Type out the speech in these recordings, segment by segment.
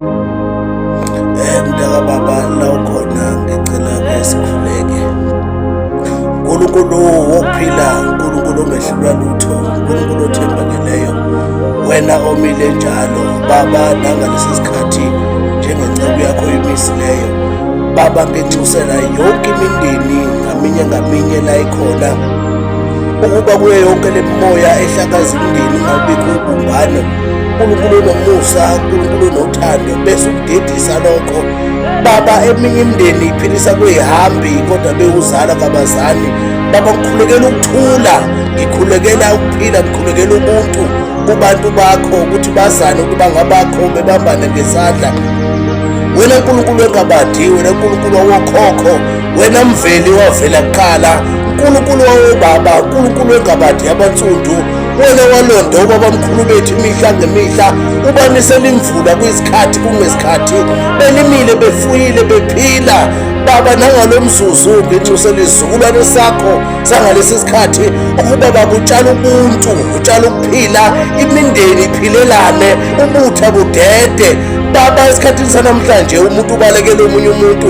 Eh mntaka baba la ukhona ngicela ke sikhuleke. Unkulunkulu wokuphila, uNkulunkulu ongehlulwa lutho, uNkulunkulu othembakeleyo. Wena omile njalo baba nangalesi sikhathi njengenceku yakho imisileyo. Baba nginxusela yonke imindeni ngaminye ngaminye la ikhona ukuba kuyo yonke le mimoya ehlakaza umndeni ungabikho ubumbano uNkulunkulu unomusa uNkulunkulu unothando bese ukudedisa lokho baba eminye imindeni iphilisa kweyihambi kodwa bewuzala kabazali baba ngikhulekela ukuthula ngikhulekela ukuphila ngikhulekela ubuntu kubantu bakho ukuthi bazane ukuba ngabakho bebambane ngesandla wena nkulunkulu wengabadi wena nkulunkulu wawokhokho wena mveli wavela kuqala nkulunkulu wawobaba nkulunkulu wengabadi yabansundu Wake walonda obabamkhulu bethu imihla ngemihla ubanisela imvula kwisikhathi kungesikhathi belimile befuyile bephila baba nangalo mzuzu nginxusela isizukulwane sakho sangalesi sikhathi ukuba bakutshala ubuntu utshala ukuphila imindeni iphilelane ubutha budede baba esikhathini sanamhlanje umuntu ubalekela omunye umuntu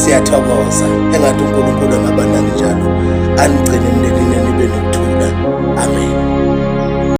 siyathokoza engathi unkulunkulu angaba nani njalo anigcine emndenini nibe nokuthula amen